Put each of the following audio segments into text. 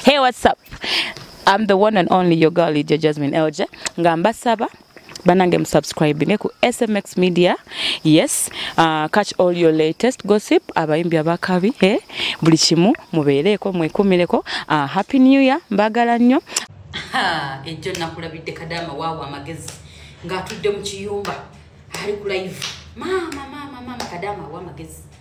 Hey, what's up? I'm the one and only your girl Lydia Jasmine Elje nga mbasaba banange musubscribinge ku smx media yes uh, catch all your latest gossip abayimbi abakabi eh? buli kimu mubeereeko mwekumireko uh, happy new year mbagala nnyo ejjo nakulabidde kadama waawo amagezi ng'atudde mu kiyumba ali ku live maama maama maama kadama awa amagezi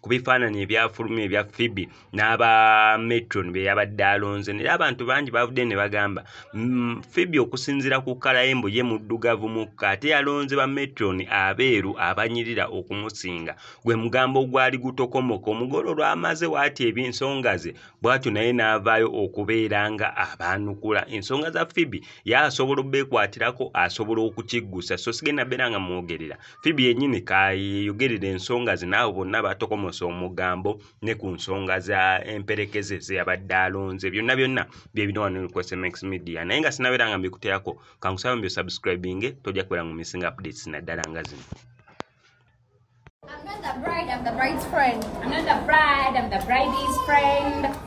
ku bifaananyi ebyafuluma ebya fibi n'aba metron be yabadde alonze naye abantu bangi bavudde ne bagamba mm, fibi okusinziira ku kalayembo ye muddugavu mukka ate yalonze ba metron abeeru abanyirira okumusinga gwe mugambo ogwali gutokomoka omugole olwamaze waati ebyensonga ze bwatyo naye n'avaayo okubeera nga abaanukula ensonga za fibi ye asobola obeekwatirako asobola okukiggusa so sigenda beera nga mwogerera Phoebe yennyini kayeyogerera ensonga ze n'abo bonna batokomose omugambo ne ku nsonga za emperekeze ze yabadde alonze byonna byonna bye bino wano ku SMX Media naye nga sinabeera nga mbikuteerako kankusaba mbyo subscribinge tojja kubeera mu missing updates naddala nga zino I'm not the bride, I'm the bride's friend. I'm not the bride, I'm the bride's friend.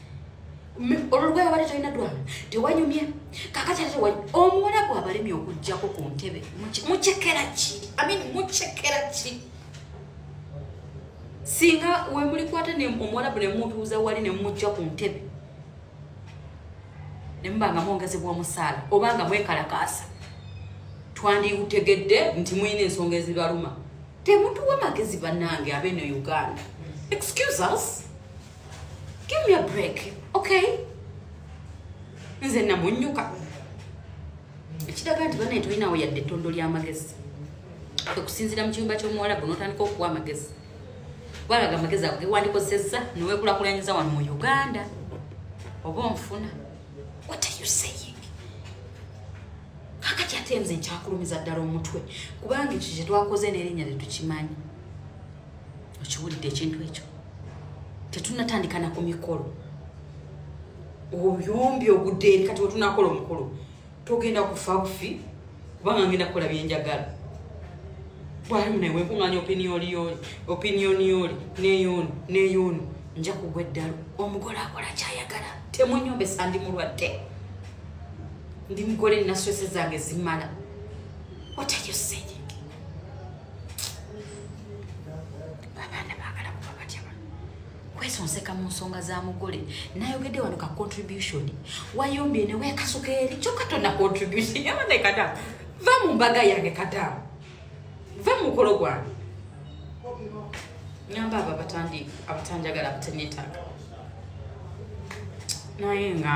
olulugaya wali tolina dwana tewanyumye kakati ate wali omuwala gwe abalemye okujjako ku ntebe mucekera ki amin mucekera ki singa wemulikwata omuwalabu nemutuuza wali nemumujja ku ntebe nemuba nga mwongezebwa omusaala oba nga mwekalakaasa twandiutegedde nti mulina ensonga ezibaluma temutuwa magezi banange abeno uganda excuse us give me a break okay nze namunyuka ekiraga nti banaye tolinawo yadde ettondo ly'amagezi okusinzira mu kiyumba ky'omuwalabu n'otandika okuwa amagezi gwalaga amagezi ago gewandikozesezza newekulakulanyiza wano mu uganda oba onfuna what are you saying kakati ate nze nkyakulumiza ddala omutwe kubanga ekyo kyetwakoze n'erinnya lyetukimanyi okiwulidde ekintu ekyo tetunatandikana ku mikolo oyombi ogudde eri kati wetunakola omukulu togenda kufa bufi kubanga ngenda kukola byenjagala bwalimunewenkuŋanya opinioniyoli opinioniyoli neyoni neyoni nja kugwa eddalu omugole akola kyayagala temunyombesa ndi mulwadde ndi mugole naswese zange zimala what are you saying abaana baagala kuba batya kwesonseka mu nsonga za mugole nayogedde wano ka contribution wayombye ne weekasuka eri kyokka tonna contribution yabane kata va mu mbaga yange kata va mu mukolo gwange nyamba abo abatandi abatanjagala abateneetaaga naye nga